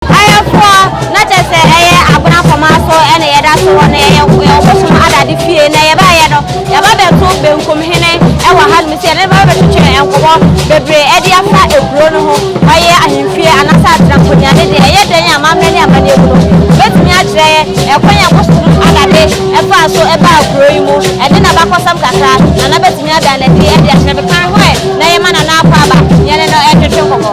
Ayɛfoɔ, na kyerɛ sɛ ɛyɛ abena poma so na yɛda so wɔ no, yɛyɛ ɔbosom adade fie, na yɛbaeɛ no, yɛaba bɛto benkum hene wɔ hanom, sɛ yɛne no bɛba bɛtwetwe nkɔmmɔ bebree de afa ekuro no ho, ɔyɛ ahemfie anaasɛ atena nkonyane deɛ, ɛyɛ dɛn a amammerɛ ne amanneɛ mu no, wobɛtumi akyerɛ yɛn ɛkwan a bosom adade faa so baa kuro yi mu, ɛne n'abakɔsɛm kakra, Nana bɛtumi ada no adi de akyerɛ me, kan ho ɛ na yɛma Nana akɔ aba, yɛne no ntwetwe nkɔmmɔ.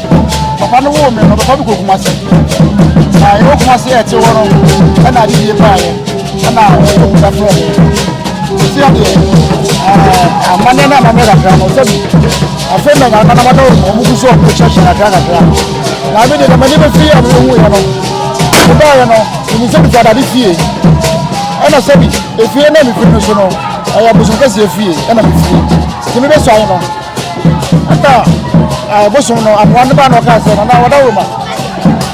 Papa no woo me no, ɔbɛfa me kɔ Kumasi. Na yɛwɔ Kumasi a ɛte hɔ no, ɛna ade yie paa yɛ. Ɛna ɔbɛkɔ mu bɛfrɛ me. Ɛsi adeɛ, amanneɛ no ama me kakra no, sɛ bi, afei na nyame na mada wɔn mu so ɔmo kyerɛkyerɛ kakra kakra. Na me de na m'ani bɛfi yɛ a me hu yɛ no, me baa yɛ no, ɛmu sɛ bisa dade fie. Ɛna sɛ bi, efie na me firi no so no, ɛyɛ bosom kɛseɛ fie ɛna me fie. Nti me bɛ sɔ ayɛ no. ɛna ɛbosom no aboa ne ba na ɔka sɛ nana wɔda wo ma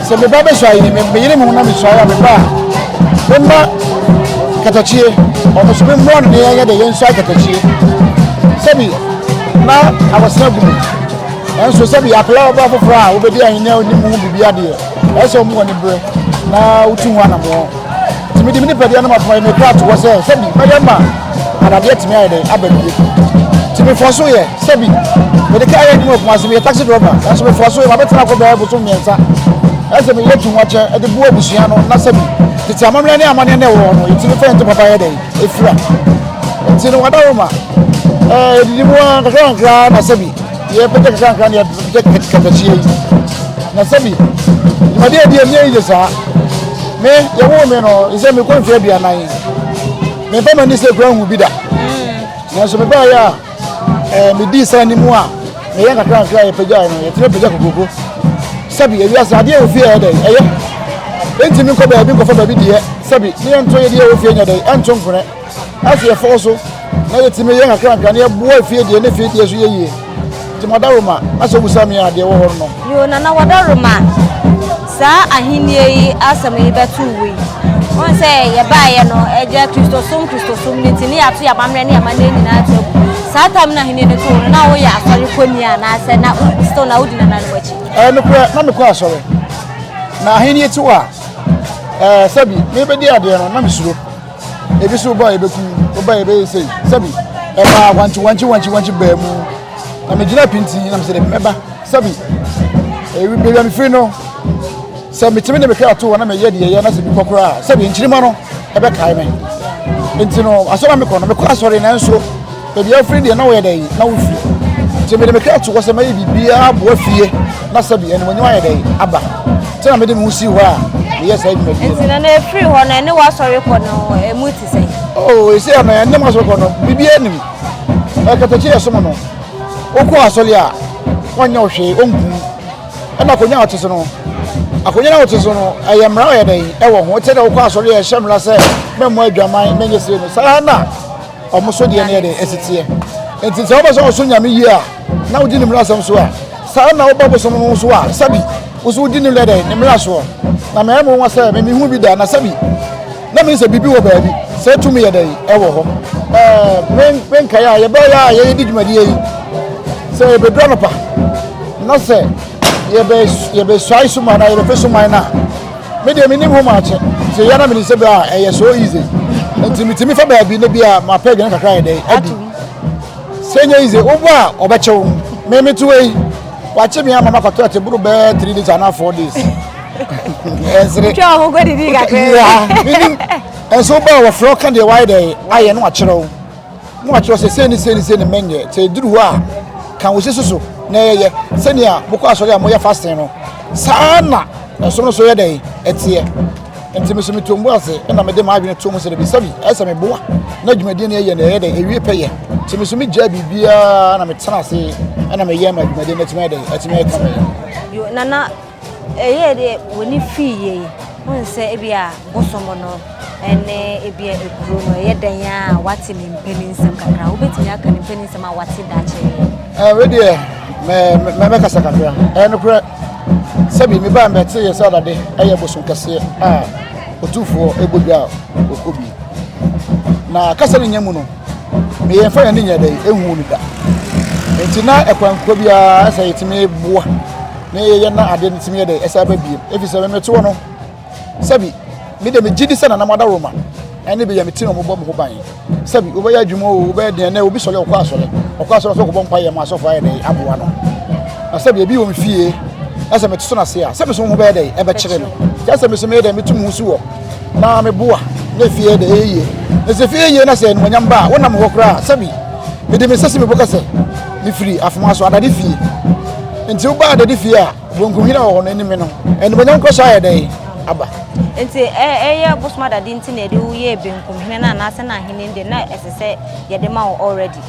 sɛ me ba bɛsɔ ayi me meyere me ho na mesɔ ayɛ me ba a me ma katakyie ɔno so me mmoa no ne yɛyɛ de yɛnsɔ ayɛ katakyie sɛbi na awɔsena gu mu nanso sɛbi akwadaa ɔba foforɔ a wobɛdi ahenni a onim ho biribi adeɛ ɛsɛ wɔn wɔ ne berɛ na wotu ho anamɔ. Nti mede me nipadua no ma poma yɛ me kra to hɔ sɛ sɛbi mɛyɛ ma anadeɛ atumi ayɛ dɛn aba bie. Nti mefɔɔ so yɛ sɛbi mede kaa yɛ adwuma wɔ Kumasi meyɛ taxi driver nanso mefɔɔ so yɛ mabɛtena kɔ bɛyɛ bosom mmiɛnsa ɛsɛ meyɛ tunwakyɛ ɛde boa abusua no na sɛbi tete amammerɛ ne amaneɛ na ɛwɔ hɔ no yɛtumi fɛ nte papa yɛ dɛn ɛfira nti no wadaroma ɛɛ ɛdidi mu a kakra kakra na sɛbi Yɛbɛgye kasa nkran yɛ bɛgye kɛmɛsie yi na sɛbi dwumadi a ɛdi ɛmie yi de saa me yɛwoo me no sɛ mekɔ mfeɛ aduanan meba m'ani sɛ kura hu bi da mm. nanso mebaeɛ a eh, medii saa anim a meyɛ nkakra nkra yɛpagyae no yɛtumi pagya kokroko sɛbi awiase adeɛ a ofie ɛyɛ dɛn ɛyɛ ɛntumi nkɔ baabi nkɔfa baabi deɛ sɛbi ne yɛnto yɛdeɛ wɔ fie nyɛ dɛn ɛnto nkorɛ Afei yɛfɔw so na yetumi yɛ nkakrankra na yɛboa fie deɛ ne fie deɛ so yɛ yie. Nti Madaroma, na sɛ wobisa me a, deɛ ɛwɔ hɔ no no. Yoo, Nana Wadaroma, saa Ahenni yi asɛm yi bɛto wo yi, wohu sɛ yɛbaeɛ no, ɛgya Kristosom Kristosom no nti ne yɛato yɛn amammerɛ ne yɛn amanneɛ nyinaa ato agu. Saa tam no Ahenni no too no, na woyɛ asɔre kɔni anaasɛ na still na wodi nananom akyi? Ɛɛ, nokorɛ, na mekɔ asɔre. Na Ahenni ti hɔ a, ɛɛ, sɛbi mebɛdi adeɛ no, na mesuro. Ebi so ba yɛbɛku woba yɛbɛyɛ sei sɛbi ɛbaa wankye wankye wankye wankye baa mu na megyina pintin na mesɛ dɛ mɛba sɛbi baabi a mefiri no sɛ metumi de mehwɛ ato hɔ na meyɛ deɛ ɛyɛ na sɛ mekɔ koraa sɛbi nkyirima no ɛbɛkae me nti no asɔre a mekɔ no mekɔ asɔre nanso Baabi a wofiri deɛ, na wɔyɛ dɛn? Na wofi. Nti mede me kra to hɔ sɛ mɛyɛ biribiara aboa fie na sɛbi animuonyam ayɛ dɛn? Aba. Nti na mede me ho sii hɔ a meyɛ saa dwumadie no. Nti na na ɛfiri hɔ no, ɛne w'asɔre kɔ no ɛmu te sɛn? Oo, ɛsɛ yɛ no ɛne m'asɔre kɔ no biribiara nim. Ɛkatakyi yɛ som no. Wokɔ asɔre a, wɔnyɛ wo hwee, ɔnkum. Ɛna akonnwa a wɔte so no, akonnwa a wɔte so no, ɛyɛ mmara ɔyɛ dɛn? Ɛwɔ ho. Ɛte dɛ wokɔ asɔre a ɛhyɛ mmara sɛ mɛmmɔ adwaman, mɛnyɛ sire no, saa na Wɔn so deɛ no yɛ dɛ, ɛsi teɛ. Enti sɛ wopɛ sɛ wosom Nyame yie a, na wodi ne mmarasɛm so a, saa ara na woba bosom no so a, sɛbi, wo nso wodi ne lɛ dɛn, ne mmara soɔ. Na mɛyɛ me nwanwa sɛ me menhuu bi da, na sɛbi, na mennsɛ biribi wɔ baabi, sɛ tumi yɛ dɛn, ɛwɔ hɔ. Ɛɛ, me, menkae a yɛbɛyɛ a yɛredi dwumadie yi, sɛ yɛbɛduru anɔpa, na sɛ yɛbɛ, yɛbɛsuae suman anaa yɛbɛpɛ suman no a, Me deɛ menim ho much nti yɛ na menim sɛ bra ɛyɛ so easy nti metumi fa baabi ne bi a mapɛ aduane kakra yɛ dɛ adi sɛ nyɛ easy wobɔ a ɔbɛkyew me meto wei wakye me ama makɔtɔ ɛte boro bɛɛ three days anaa four days ɛnsere twɛ ɔho kɔdidi kakra ɛnso wobɔ a wɔfrɛ ɔka deɛ wayɛ dɛ ayɛ no akyerɛw na wɔakyerɛ sɛ sei ne sei ne sei ne menyɛ sɛ ɛduru hɔ a ka wo sisi so na ɛyɛ sɛnea mokɔ asɔre a moyɛ fasten no saa na ɛsom no so yɛ dɛn ɛteɛ nti me so meto mbu ase ɛna mede m'adwene to mu sɛ dabi sɛbi ɛsɛ meboa na dwumadie no ɛyɛ na ɛyɛ dɛn ɛwie pɛ yɛ nti me so megyaa biribiaa na metena ase ɛna meyɛ ma dwumadie no atumi ɛdɛn atumi ɛka bɛyɛ nana Ɛyɛɛ dɛ w'ani fii yie yi, wohu sɛ ebia bosom no ne ebia ekuro no ɛyɛ dɛn a wate ne mpaninsɛm kakra. Wobɛtumi aka ne mpaninsɛm a wate da kyerɛ yɛ. Wei deɛ mɛbɛkasa kakra. Ɛyɛ nokorɛ sɛbi mebaa mɛte yɛ sɛ adade ɛyɛ bosom kɛseɛ a ɔtumfoɔ ɛbɔ dwa a ɔkɔ bi. Na kasa ne nya mu no, meyɛ mfa yɛn ne nyɛ dɛ ɛhu no da. Nti na ɛkwankuo biara sɛ yɛtumi boa. na yɛyɛ na adeɛ no tumi yɛ dɛ ɛsɛ aba biem ɛfiri sɛ memetoɔ no sɛbi mede megye di sɛ nanam adaroma ɛne bɛyɛ mete no mobɔ mo ho ban sɛbi wobɛyɛ adwuma o wobɛyɛ deɛ nɛ obi sɔre ɔkɔ asɔre ɔkɔ asɔre sɛ ɔkɔbɔ mpa yɛ ma asɔfo ayɛ dɛ aboa no na sɛbi ebi wɔ me fie ɛsɛ mete so no ase a sɛ me so ho bɛyɛ dɛ ɛbɛkyerɛ me kyɛ sɛ me so meyɛ dɛ metu mu so wɔ na meboa na fie yɛ dɛ ɛyɛ yie na sɛ fie yɛ yie na sɛ animonyam ba a wonam hɔ koraa sɛbi mede me sɛ si mebɔ kɛsɛ Mefiri afoma so adade fie. Nti wobaa adade fie a bonkunhwira wɔ hɔ no anim no, animuonyam nkɔso ayɛ dɛn aba? Nti ɛyɛ bosom adade nti na yɛde wo yɛɛ benkumhene no anaasɛ na ahene de na ɛsɛ sɛ yɛde ma wo already?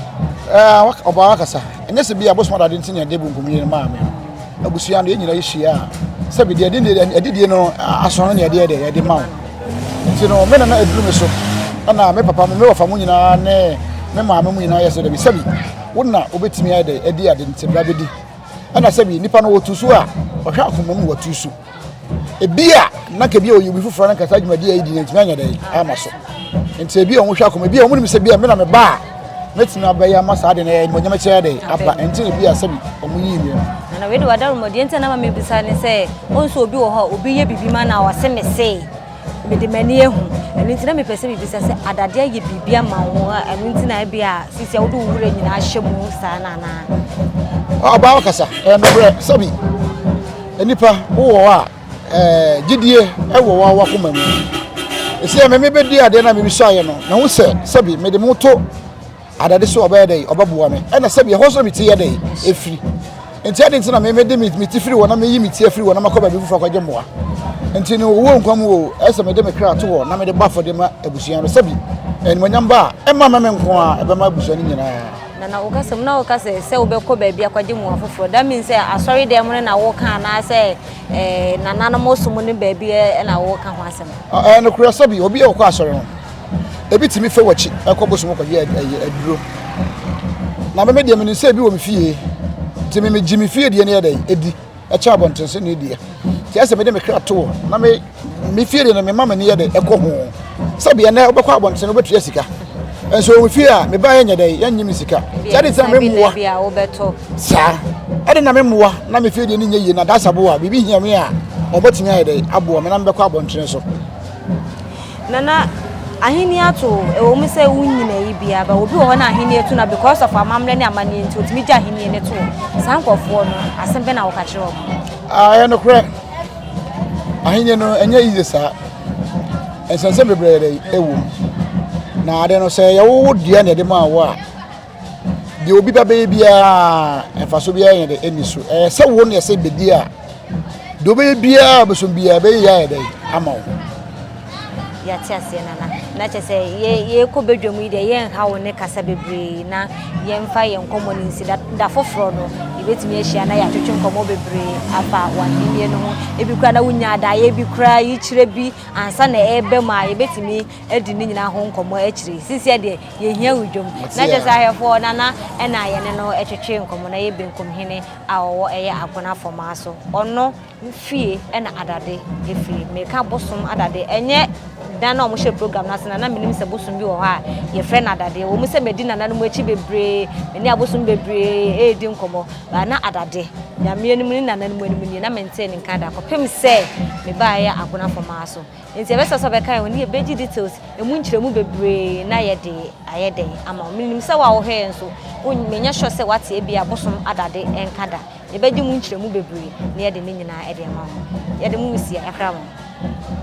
Ɔbaa wakasa. Ɛnyɛ sɛ bi a bosom adade nti na yɛde benkumhene no maa me. Abusua no yɛn nyinaa yɛhyia a sɛbi deɛ ɛde deɛ ɛde deɛ no aso no deɛ deɛ yɛde ma wo nti no me nana aduru me so ɛna me papa me wɔfa mu nyinaa ne me maame mu nyinaa yɛ sɛ dɛbi sɛbi wo na wobɛtumi ayɛ dɛ ɛde ade nti bra bɛdi ɛna sɛbi nipa no wɔtu so a ɔhwɛ akoma mu wɔtu so ebi a na kebi a ɔyɛ obi foforɔ na kasa dwumadi a yɛdi na ntumi anya dɛn ama so nti ebi a wɔn hwɛ akoma ebi a wɔn nim sɛ bi a mena me ba a mɛtumi abɛyɛ ama saa de na ɛyɛ mɔnyɛmɛ kyerɛ de aba nti na ebi a sɛbi wɔn yi yie. na wei de wada rumɔdeɛ nti na ma mebisa ne sɛ ɔnso obi wɔ hɔ a obi yɛ bibi ma na ɔse me se Mede m'ani ahu. Ɛno nti na mepɛ sɛ mebisa sɛ adade ayɛ biribi ama wo a ɛno nti na ebi a sisi a wode wo wura nyinaa ahyɛ mu saa na anaa? Ɔbaa wakasa ɛyɛ nokorɛ sɛbi nnipa wowɔ hɔ a ɛɛ gyidie ɛwɔ wɔ wakoma mu. Ɛsɛ mɛmɛ bɛdi adeɛ na mebisa ayɛ no na ho sɛ sɛbi mede mo to Adade so ɔbɛyɛ dɛn? Ɔbɛboa me. Ɛna sɛbi ɛhɔ nso na me ti yɛ dɛn? Efiri. Nti ɛde nti na me mede me me ti firi hɔ na me yi me ti afiri hɔ na makɔ baabi foforɔ akɔgye mmoa. Nti no owuo nkwa mu o, ɛsɛ mede me kra to hɔ na mede bɔ afɔdeɛ ma abusua no. Sɛbi animuonyam ba a, ɛmma mɛ me nko a, ɛbɛma abusua no nyinaa. Na na woka sɛ mu na woka sɛ sɛ wobɛkɔ baabi akɔgye mmoa foforɔ. That means sɛ asɔre dɛm no na woka anaasɛ ɛɛ nananom som no baabi na woka ho asɛm. Ɛɛ nokorɛ sɛbi obi a ɔkɔ asɔre no. ebi tumi fɛ w'akyi ɛkɔ bosom kɔyɛ ɛyɛ aduro na mɛmɛ deɛ menim sɛ ebi wɔ me fie nti mɛmɛ gye me fie deɛ ne yɛ dɛ edi ɛkyɛ abɔnten so ne deɛ nti ɛsɛ mɛde me kra to wɔ na me me fie deɛ na mɛma mɛ ne yɛ dɛ ɛkɔ ho sɛ deɛ nɛ wobɛkɔ abɔnten no wobɛtua sika nso wɔn fie a meba yɛ nyɛ dɛ yɛ nye me sika sɛ ɛde sɛ mɛmoa saa ɛde na mɛmoa na me fie deɛ ne nyɛ yie na dasaboa biribi hia me a wɔbɛtumi ayɛ dɛ aboa me na mɛbɛkɔ abɔnten so Nana ahenni ato o, ɛwɔ mu sɛ wonyin ayi biara ba, obi wɔ hɔ na ahenni ato na because of amammerɛ ne amanneɛ nti otumi gye ahenni ne to. Saa nkurɔfoɔ no, asɛm bɛ na wɔka kyerɛ wɔn? Ah, ɛyɛ nokorɛ. Ahenni no, ɛnyɛ yiye saa. Nsɛnsɛm bebree ɛwɔ mu. Na ade no, sɛ yɛwowo dua na yɛde maa wo a, deɛ obi ba bɛyɛ biara mfaso biara yɛ dɛ ɛni so ɛyɛ sɛ wo na ɛsɛ bɛdi a deɛ wobɛyɛ biara bɛso biara bɛyɛ yɛ ayɛ dɛ ama wo yɛate aseɛ nana na kyɛ sɛ yɛkɔ badwa mu yi deɛ yɛnha wo ne kasa bebree na yɛmfa yɛn nkɔmmɔ no nsi da foforɔ no yɛbɛtumi ahyia na yɛatwetwe nkɔmmɔ bebree afa wahennie no ho ebi koraa na wonya adaeɛ bi koraa yikyerɛ bi ansa na ɛbɛ mu a yɛbɛtumi adi ne nyinaa ho nkɔmmɔ akyiri sisiɛ deɛ yɛhia wo dwom na kyɛ sɛ ahwɛfoɔ nana ɛna yɛne no ɛtwetwe nkɔmmɔ na yɛ benkum hene a ɔwɔ ɛyɛ agona fɔmaa so ɔno fie ɛna adade ɛfiri meka bosom adade ɛnyɛ dan na ɔmohyɛ program no ase na na menim sɛ bosom bi wɔ hɔ a yɛfrɛ no adade wɔ mu sɛ madi nana no mu akyi bebree mene abosom bebree ɛredi nkɔmmɔ baa na adade nyameɛ no mu ne nana no mu anim nie na mentee ne nka da kɔpem sɛ mebaeɛ agona fɔmaa so Enti ɛbɛsɛ sɛ ɔbɛkan wo, ne yɛ bɛgye details, ɛmu nkyerɛmu bebree na yɛ de ayɛ dɛn ama wo. Me nim sɛ wo a wo hwɛɛ nso, wo me nyɛ sure sɛ wate ɛbi a bosom adade ɛnka da. Yɛ bɛgye mu nkyerɛmu bebree na yɛ de ne nyinaa ɛde ama wo. Yɛ de mo nsia ɛkra mo.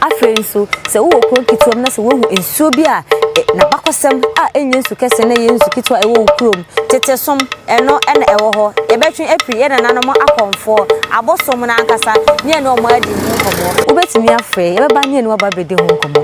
Afei nso, sɛ wo wɔ kuro nketewa mu na sɛ wo ahu nsuo bi a na bakɔsɛm a ɛnyɛ nsu kɛse na ɛyɛ nsu ketewa ɛwɔ wo kurom Tete som, ɛno na ɛwɔ hɔ. Yɛbɛtwe afiri yɛn nananom akɔmfoɔ, abosom no ankasa, ne yɛne wɔn adi ho nkɔmmɔ. Wobɛtumi afrɛ yɛn, yɛbɛba ne yɛne wo aba abɛdi ho nkɔmmɔ.